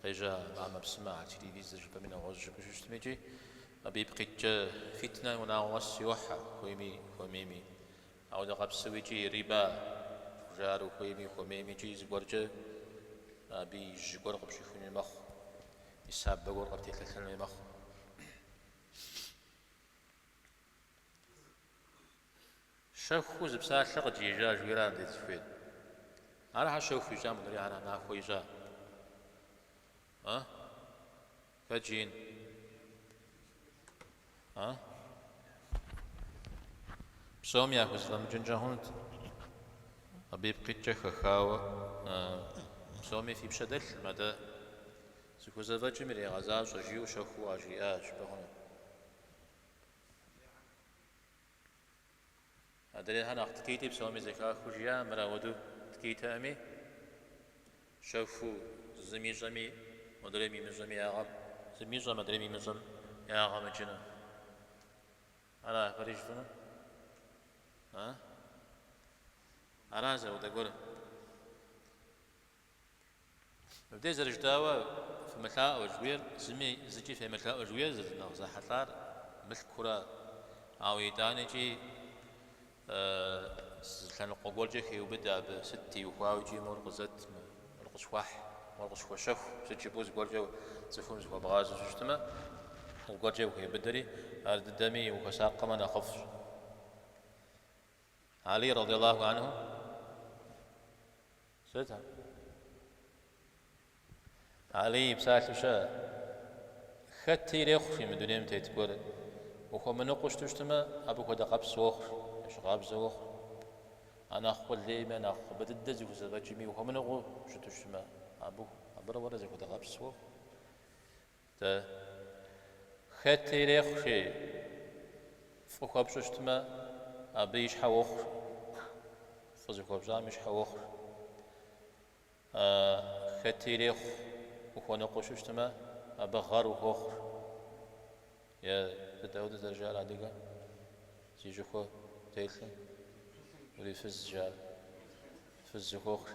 къежьа мамэ-псымэ, а телевизор жыпӏэми нэгъуэщӏ жыпӏэу щыщытми икӏи. Абы ипкъ иткӏэ фитнэ унагъуэ къэс йохьэ, хуейми, хуэмейми. Апхуэдэ къабзэу икӏи, риба, жаӏэр ухуейми, ухуэмейми икӏи зыгуэркӏэ абы и жьы гуэр къыпщӏихунуи мэхъу, и сабэ гуэр къыптелъэлъэнуи мэхъу. Щэхуу зы псалъэ къыджиӏа жиӏэра ар дэ дызыхуейр? Ар щхьэ щэху ищӏа, модрейр щхьэ нахуэ ищӏа? А? Хэт жиӏэн? А? Псом яхузэфӏэмыкӏынкӏэ хъунут абы ипкъ иткӏэ хэхауэ. Псоми фи пщэ дэлъкъым, атӏэ зыхузэфӏэкӏым ирегъэзащӏэ жиӏэу щэхуу къажриӏащ, пэхъуну. Адрейхэр нэхъ ткӏийти псоми зэхахыу жиӏа, мыр ауэдэу ткӏийтэкъыми, щэхуу зым ищӏэми, модрейм имыщӏэми я гъэм, зым ищӏэ, модрейм имыщӏэм ягъэ мыкӏыну. Ара ахэр ищӏыну? А? Ара зы ауэдэ гуэр? Мыбдеж зэрыжытӏауэ, фымылъаӏуэ жыхуиӏэр зыми, зыкӏи фемылъэӏу жыхуиӏэр зэры нэхъ зэхьэлӏар мылъкура? Ауэ итӏанэкӏи зы лъэныкъуэ гуэркӏэ хеубыдэ абы, сыт теухуауэкӏи мор къызэт, мор къысхуэхь, мор къысхуэщэху, сыт жыпӏэу зыгуэркӏэ цӏыхум зыхуэбгъазэу щыщытмэ, зыгуэркӏэ ухеубыдэри, ар дыдэми ухуэсакъмэ нэхъыфӏщ. Алий радиаллаху анху сыт? Алий и псалъэщ, хэти ирехъуи мы дунейм тет гуэр ухуэмыныкъу щыту щытымэ, абы хуэдэ къабзэ уохъу, ещхь къабзэ уохъу. А нэхъ къулейми, а нэхъыбэ дыдэ зыхузэфӏэкӏми ухуэмыныкъу щыту щытымэ, абы, абырэ уэрэ зэхуэдэ къабзэ уохъу. Дэ, хэти ирехъуи, фӏы хуэпщӏэу щытмэ, абы и щхьэ уохъу, фӏы зыхуэпщӏам и щхьэ уохъу. А хэти ирехъу ухуэныкъуэу щытмэ, абы гъэр ухуохъу. Е дауэдэ зэрыжаӏэр адыгэ зи щӏыхуэ птелъым урифыз жаӏэр, фыз ухуохъу.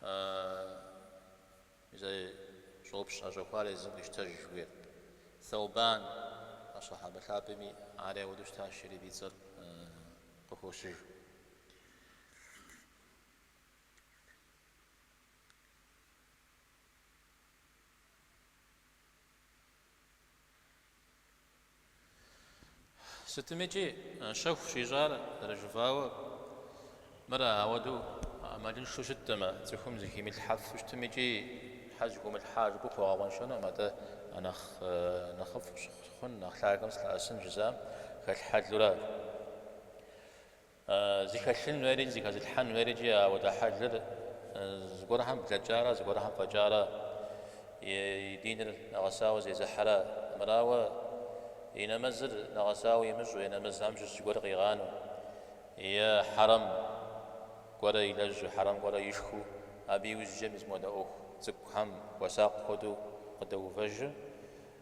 А мис зи щӏопщ ӏэщӏэхуар езым къищтэж жыхуиӏэр. Сэубан асхьэбэ лъапӏэми ари ауэдэу щытащ, ари абы и цӏэр къыхощыж. Сытми икӏи щэху щӏищӏар зэрыжыфӏауэ, мыр ауэдэу ӏэмалыншэу щытэмэ, цӏыхум зыхимылъхьэфу щытмикӏи щхьэ зыхумылъхьа жыпӏэу пхуэгъэкъуэншэнукъым, атӏэ нэхъ нэхъыфӏ сыхъун, нэхъ лъагэм сылъэӏэсын жызыӏэм хэлъ хьэлура? Зыхэлъын хуейри зыхэзылъхьэн хуейри икӏи ауэдэ хьэлыр зыгуэрхэм блэкӏарэ зыгуэрхэм фӏэкӏарэ и диныр нэгъэсауэ зезыхьэрэ, мырауэ и нэмэзыр нэгъэсауэ имыщӏу е нэмэзхэм щыщ зыгуэр къигъанэу, е хьэрэм гуэрэ илэжьу, хьэрэм гуэрэ ишхыу абы иужькӏэ мис модэ ӏуэху цӏыкӏухэм хуэсакъ хуэдэу къыдэувэжу,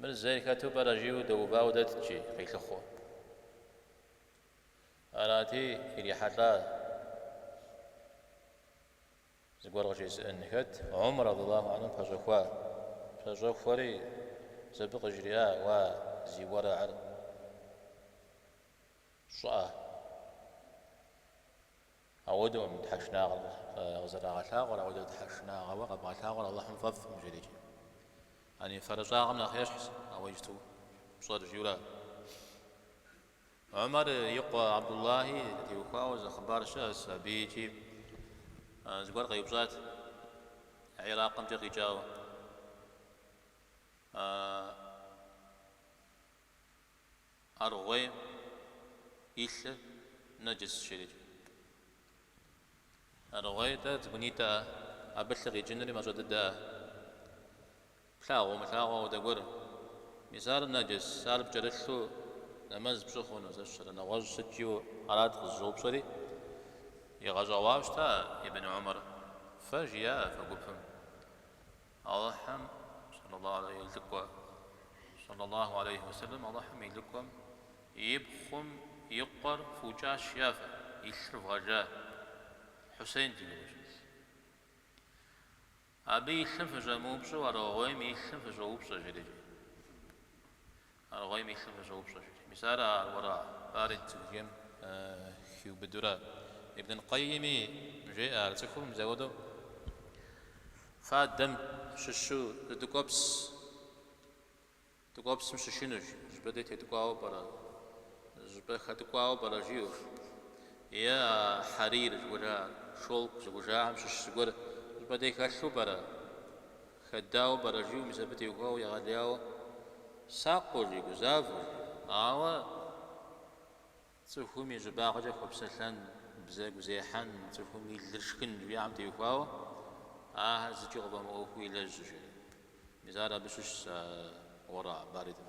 Мыр зейр хэту пӏэрэ жиӏэу дэувауэ дэтщи, къилъыхъуу. Арати, ирихьэлӏа зыгуэр къыжезыӏэн. Хэт Умар, рэдияллаху анху, пэщӏэхуа? Пэщӏэхуэри, мис абы къыжриӏа, уа, зи уэрагьыр щӏыӏэ. Ауэдэукъым тхьэшынагъэр къызэрагъэлъагъуэр, ауэдэу тхьэшынагъэуэ къэбгъэлъагъуэр Алыхьым фӏэфӏкъым жери икӏи. Яни фэрыщӏагъэм нэхъ ещхьщ, а уэ иджыпсту пщӏэр жиӏэурэ. Умар и къуэ Абдуллахь теухуауэ зы хъыбар щыӏэщ абы икӏи. Зыгуэр къеупщӏат, Иракъымкӏэ къикӏауэ, а. Аргъуейм и лъы нэджыс жери икӏи. Аргъуей-тӏэ, цӏыкӏунитӏэ, абы лъы къикӏынри мащӏэ дыдэ. Плъагъуу-умылъагъуу ауэдэ гуэр. Мис ар нэджыс, ар пкӏэрылъу нэмэз пщӏы хъуну, зэ щырэ нэгъуэщӏ сыткӏиу арат къызыщӏэупщӏэри, игъэщӏэгъуащ-тӏэ Ибн Умар, фэ жиӏа фэ гупым. Алыхьым, и лӏыкӏуэ, сэллэ Аллаху алейхи уэ сэллэм, Алыхьым и лӏыкӏуэм, и пхъум и къуэр фукӏащ, а фэ, и лъыр вгъэжа. Хьусейнт и гугъу ищӏыр. Абы и лъым фыщӏэмыупщӏэу аргъуейм и лъым фыщӏоупщӏэ жери. Аргъуейм и лъым фыщӏоупщӏэ жи, Мис ар а уэрагь барид зыхужаӏэм хиубыдурэ. Ибн аль-Къэйими жеӏэ ар цӏыхум мис ауэду фадэм щыщу зы ткӏуэпс ткӏуэпсым щышынущ, щӏыпӏэ дей теткӏуауэ пӏэрэ, щӏыпӏэ хэткӏуауэ пӏэрэ жиӏэущ. Е а хьэрир зыхужа, шёлк зыхужахэм щыщ зыгуэр щӏыпӏэ дей хэлъу пӏэрэ? Хэдауэ пӏэрэ жиӏэу мис абы теухуауэ егъэлеяуэ сакъыу жи, гузавэу жи. Ауэ цӏыхум и щӏыбагъкӏэ хуэпсэлъэн, бзэгу зехьэн, цӏыхум и лыр шхын жиӏам теухуауэ ахэр зыкӏи къыфӏэмыӏуэхуу илэжьущ жери. Мис ар абы щыщщ а уэрагь баридыр.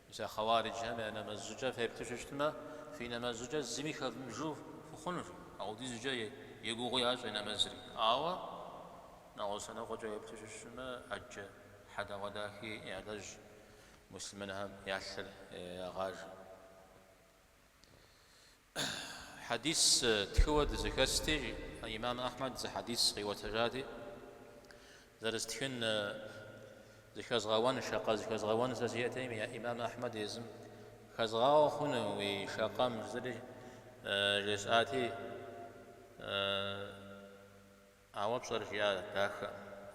Мис а хъэуариджхэм я нэмэз щӏыкӏэм феплъу щытмэ, фи нэмэз щӏыкӏэр зыми хэвмыбжэу фыхъунущ, апхуэдизкӏэ егугъуу ящӏи нэмэзри. Ауэ нэгъуэщӏ лъэныкъуэкӏэ уеплъу щытмэ, ӏэджэ хьэдэгъуэдахи ялэжь, муслъымэнхэм я лъыр ягъажэ. Хьэдис тхыуэ дызэхэсти, имам Ахьмэд зы хьэдис къиӏуэтэжати, зэрызтхын зыхэзгъэуэн, шакъэ зыхэзгъэуэн сэ сиӏэтэкъыми, имам Ахьмэд езым хэзгъауэ хъуну уи шакъэм жызэри жесӏати, Ауэ пщӏэр жиӏа дахэ,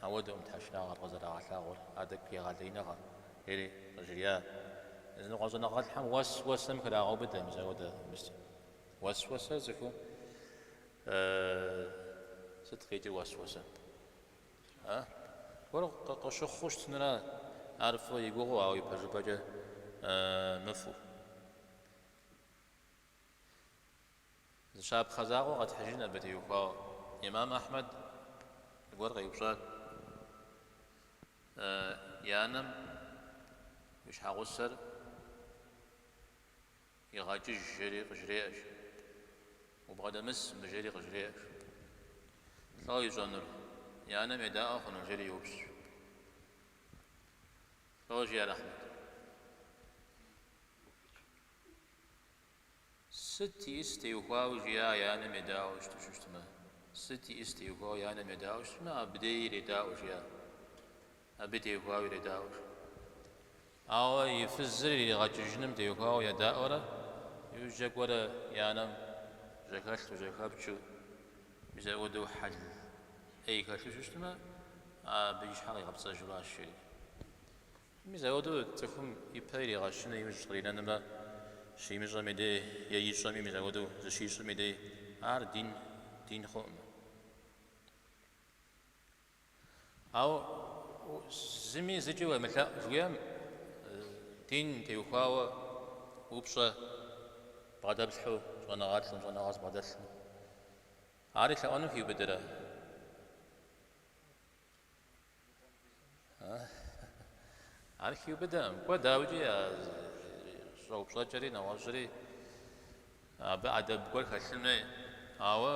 ауэдэкъым тхьэшынагъэр къызэрагъэлъагъуэр, атӏэ егъэлеиныгъэ, жери къыжриӏа. Языныкъуэ щӏэныгъэлӏхэм уэсуэсэм храгъэубыдэ мис ауэдэ мис уэсуэсэ цӏыхуу сыт къикӏыр уэсуэсэ? А? Гуэр къыщыхъуу щытынра ар фӏы и гугъэу, ауэ ипэжыпӏэкӏэ мыфӏу. Зы щапхъэ закъуэ къэтхьыжын абы теухуауэ. Имам Ахьмэд зыгуэр къеупщӏат, и анэм уи щхьэгъусэр игъэкӏыж жери къыжреӏэш, убгъэдэмыс мыбы жери къыжреӏэш. Лӏо ищӏэнур, и анэм едаӏуэ хъуну? жери йоупщӏ. Лӏо, жиӏэр Ахьмэд. Сыт иӏыс теухуауэ жиӏа и анэм едаӏуэу щыту щыщытмэ? Сыт иӏыс теухуауэ и анэм едаӏуэу щытмэ, абдеи иредаӏуэ жиӏа? Абы теухуауэ иредаӏуэ жиӏа? Ауэ и фызыр иригъэкӏыжыным теухуауэ едаӏуэрэ, иужькӏэ кӏуэрэ и анэм жьэхэлъэу, жьэхэпкӏэу, мис ауэдэу хьэл ӏей хэлъу щыщытмэ, абы и щхьэр къигъэпцӏэжу аращ, жери. Мис ауэдэу цӏыхум ипэ иригъэщыну имыщӏ къринэнымрэ щимыщӏэм и дей, е ищӏэми мис ауэдэу зыщищӏым и дей, ар дин дин хъуӏым. Ауэ зыми зыкӏи уемылъэӏу жиӏэм, дин теухуауэ упщӏэ бгъэдэплъхьу щӏэныгъэлӏым, щӏэныгъэ зыбгъэдэлъым, ари лъэӏуэну хиубыдэрэ? Ар хиубыдэкъым. Кӏуэ, дауикӏи, я щӏэупщӏэкӏэри нэгъуэщӏри абы ӏэдэб гуэр хэлъын хуей. Ауэ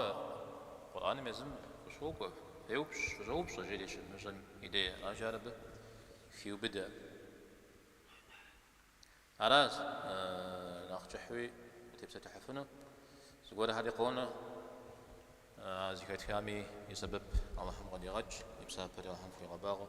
Къурӏэным езым къыщокӏуэ, феупщӏ, фыщӏэупщӏэ, жери щывмыщӏэм и дей аращ ар абы хиубыдэ. Аращ нэхъ кӏыхьуи утепсэлъыхьыфыну. Зыгуэрхэри къонэ, а зыхэтхами и сэбэп Алыхьым къыдигъэкӏ, и псапэри Алыхьым хуигъэбагъуэ.